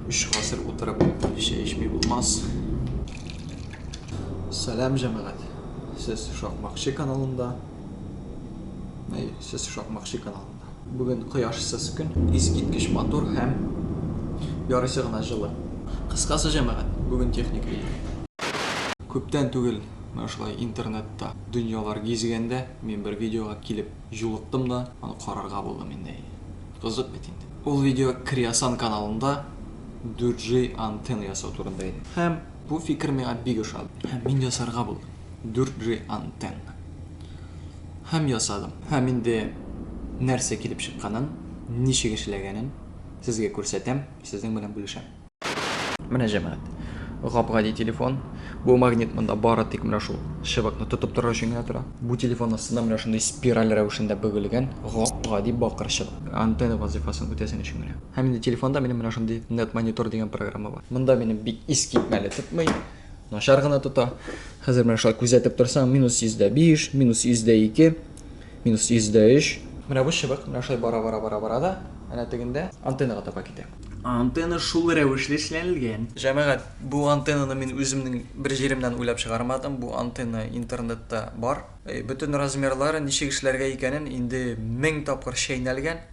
Өч гасыр утырып чәй эчми булмас. Сәлам җәмәгать. Сез Шакмакчы каналында. Әй, сез Шакмакчы каналында. Бүген кояшсыз көн, искиткеч матур һәм ярыйсы гына җылы. Кыскасы җәмәгать, бүген техник видео. Күптән түгел менә шулай интернетта дөньялар гизгәндә мин бер видеога килеп Җулыктым да, аны карарга булдым инде. Әйе. Кызык бит инде. Ул видео Креосан каналында 4G антенна ясау турында иде. Һәм бу фикер миңа бик ошады. Һәм мин ясарга булдым 4G антенна. Һәм ясадым. Һәм инде нәрсә килеп чыкканын, ничек эшләгәнен сезгә күрсәтәм, сезнең белән бүлешәм. Менә җәмәгать. Гап-гади телефон. Бу магнит монда бары тик менә шул чыбыкны тотып торыр өчен генә тора. Бу телефон астында менә шундый спираль рәвешендә бөгелгән гап-гади бакыр чыбык. Антенна вазыйфасын үтәсен өчен генә. Һәм инде телефонда минем менә шундый Net Monitor дигән программа бар. Монда минем бик искитмәле тотмый, начар гына тота. Хәзер менә шулай күзәтеп торсаң, минус 105, минус 102, минус 103. Менә бу чыбык менә шулай бара-бара-бара-бара да, әнә тегендә антеннага таба китә. Антенна шул рәвешле эшләнелгән. Җәмәгать, бу антеннаны мин үземнең бер җиремнән уйлап чыгармадым, бу антенна интернетта бар. Бөтен размерлары, ничек эшләргә икәнен инде мең тапкыр чәйнәлгән,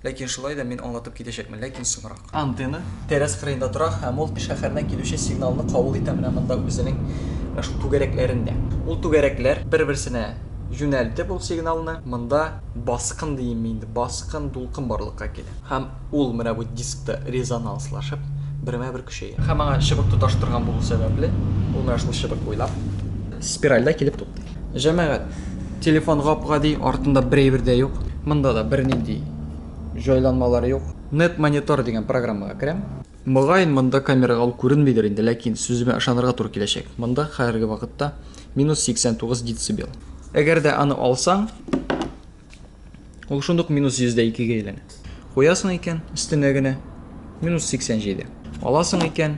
ләкин шулай да мин аңлатып китәчәкмен, ләкин соңрак. Антенна тәрәз кырыенда тора һәм ул шәһәрдән килүче сигналны кабул итә менә монда үзенең менә шул түгәрәкләрендә. Ул түгәрәкләр бер-берсенә юнәлтеп ул сигналны монда баскын диимме инде, баскын, дулкын барлыкка килә. Һәм Ул менә бу дискта резонанслашып, бермә-бер көчәя. Һәм аңа чыбык тоташтырган булу сәбәпле, ул менә шул чыбык буйлап спиральдә килеп туктый. Җәмәгать, телефон гап-гади, артында бер әйбер дә юк. Монда да бернинди җайланмалар юк. NetMonitor дигән программага керәм. Мөгаен, монда камерага ул күренмидер инде, ләкин сүземә ышанырга туры киләчәк. Монда хәерге вакытта минус 89 децибел. Әгәр дә аны алсаң, Ул шундук минус йөз дә икегә әйләнә. Куясың икән, өстенә генә минус 87. Аласың икән,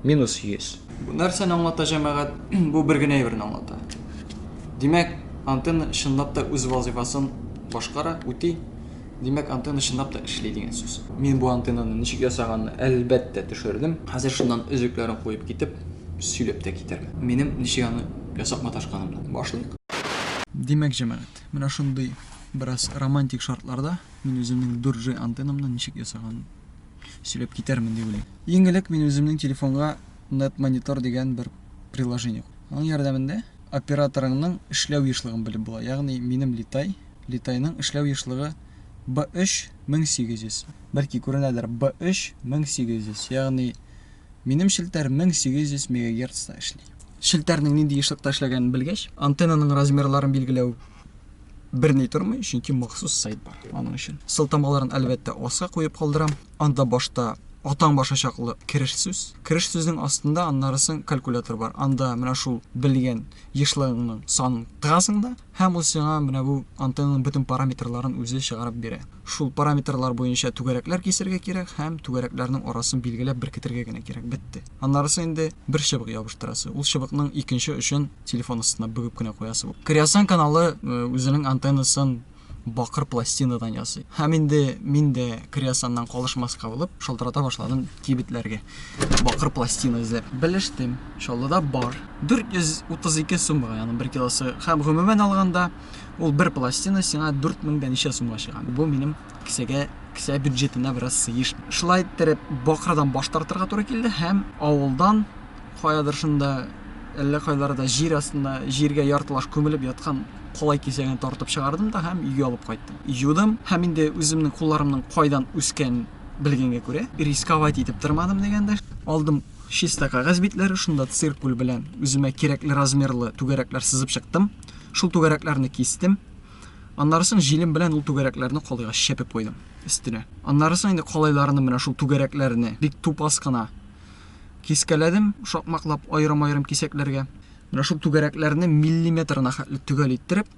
минус 100. Бу нәрсәне аңлата, җәмәгать? Бу бер генә әйберне аңлата. Димәк, антенна чынлап та үз вазыйфасын башкара, үти. Димәк, антенна чынлап та эшли дигән сүз. Мин бу антеннаны ничек ясаганны, әлбәттә, төшердем. Хәзер шуннан өзекләрен куеп китеп, сөйләп тә китәрмен. Минем ничек аны ясап маташканымны. Башлыйк. Димәк, җәмәгать, менә шундый бераз романтик шартларда мин үземнең дүрт джи антеннамны ничек ясаганын сөйләп китәрмен дип уйлыйм. Иң элек мин үземнең телефонга NetMonitor дигән бер приложение куйдым. Аның ярдәмендә операторыңның эшләү ешлыгын белеп була, ягъни минем Литай, Литайның эшләү ешлыгы Б3, 1800, бәлки күренәдер, Б3, 1800, ягъни минем челтәр 1800 мегагерцта эшли. Челтәрнең нинди ешлыкта эшләгәнен белгәч, антеннаның размерларын билгеләү берни тормый, чөнки махсус сайт бар аның өчен. Сылтамаларын, әлбәттә, аска куеп калдырам. Анда башта атаң башы чаклы кереш сүз. Кереш сүзнең астында аннары соң калькулятор бар. Анда менә шул белгән ешлыгыңның санын тыгасың да, һәм ул сиңа менә бу антеннаның бөтен параметрларын үзе чыгарып бирә. Шул параметрлар буенча түгәрәкләр кисәргә кирәк һәм түгәрәкләрнең арасын билгеләп беркетергә генә кирәк, бетте. Аннары соң инде бер чыбык ябыштырасы, ул чыбыкның икенче очын телефон астына бөгеп кенә куясы. Креосан каналы үзенең антеннасын бакыр пластинадан ясый. Һәм инде мин дә креосаннан калышмаска булып, шалтырата башладым кибетләргә. Бакыр пластина эзләп. Белештем, Чаллыда бар. 432 сумга, ягъни 1 килосы. Һәм гомумән алганда, ул бер пластина сиңа 4000 дә ничә сумга чыга. Бу минем кесәгә кесә бюджетына бераз сыеш. Шулай иттереп, бакырдан баш тартырга туры килде һәм авылдан каядыр шунда, әллә кайларда җир астында, җиргә яртылаш күмелеп яткан калай кисәген тартып чыгардым да һәм өйгә алып кайттым. Юдым һәм инде үземнең кулларымның кайдан үскән белгәнгә күрә, рисковать итеп тормадым дигәндә, алдым чиста кәгазь битләре, шунда циркуль белән үземә кирәкле размерлы түгәрәкләр сызып чыктым, шул түгәрәкләрне кистем, аннарысын җилем белән ул түгәрәкләрне калайга чәпеп куйдым өстенә. Аннарысын инде калайларны менә шул түгәрәкләрне бик тупас кына Кискәләдем, шакмаклап, аерым-аерым кисәкләргә. Менә шул түгәрәкләрне миллиметрына хәтле төгәл иттереп,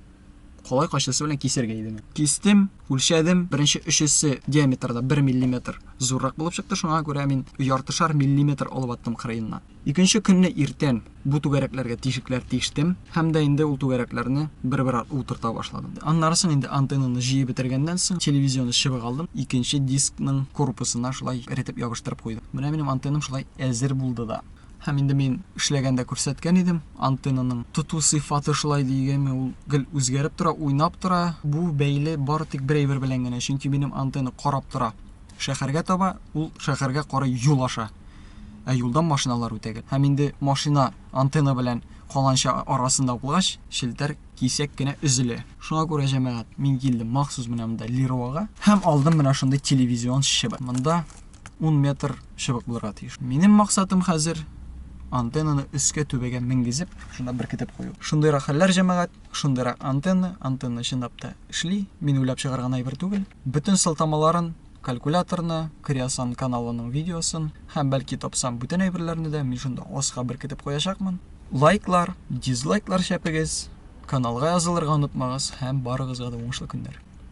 калай кайчысы белән кисәргә иде миңа. Кистем, үлчәдем, беренче өчесе диаметрда бер миллиметр зуррак булып чыкты, шуңа күрә мин яртышар миллиметр алып аттым кырыеннан. Икенче көнне иртән Бу түгәрәкләргә тишекләр тиштем һәм дә инде ул түгәрәкләрне бер-бер артлы утырта башладым. Аннары соң инде антеннаны җыеп бетергәннән соң, телевизионы чыбык алдым, икенче дискның корпусына шулай эретеп ябыштырып куйдым. Менә минем антеннам шулай әзер булды да. Һәм инде мин эшләгәндә күрсәткән идем, антеннаның тоту сыйфаты шулай дигәнме, ул гел үзгәреп тора, уйнап тора. Бу бәйле бары тик бер әйбер белән генә, чөнки минем антенна карап тора. Шәһәргә таба, ул шәһәргә карый юл аша. Ә юлдан машиналар үтә гел. Һәм инде машина антенна белән каланча арасында булгач, челтәр кисәк кенә өзелә. Шуңа күрә, җәмәгать, мин килдем махсус менә монда Леруага һәм алдым менә шундый телевизион чыбык. Монда ун метр чыбык булырга тиеш. Минем максатым хәзер антеннаны өскә түбәгә менгезеп, шунда беркетеп кую. Шундыйрак хәлләр, җәмәгать, шундыйрак антенна, антенна чынлап та эшли, мин уйлап чыгарган әйбер түгел. Бөтен сылтамаларын, калькуляторны, Креосан каналының видеосын һәм, бәлки тапсам, бүтән әйберләрне дә мин шунда аска беркетеп куячакмын. Лайклар, дизлайклар чәпегез, каналга язылырга онытмагыз һәм барыгызга да уңышлы көннәр!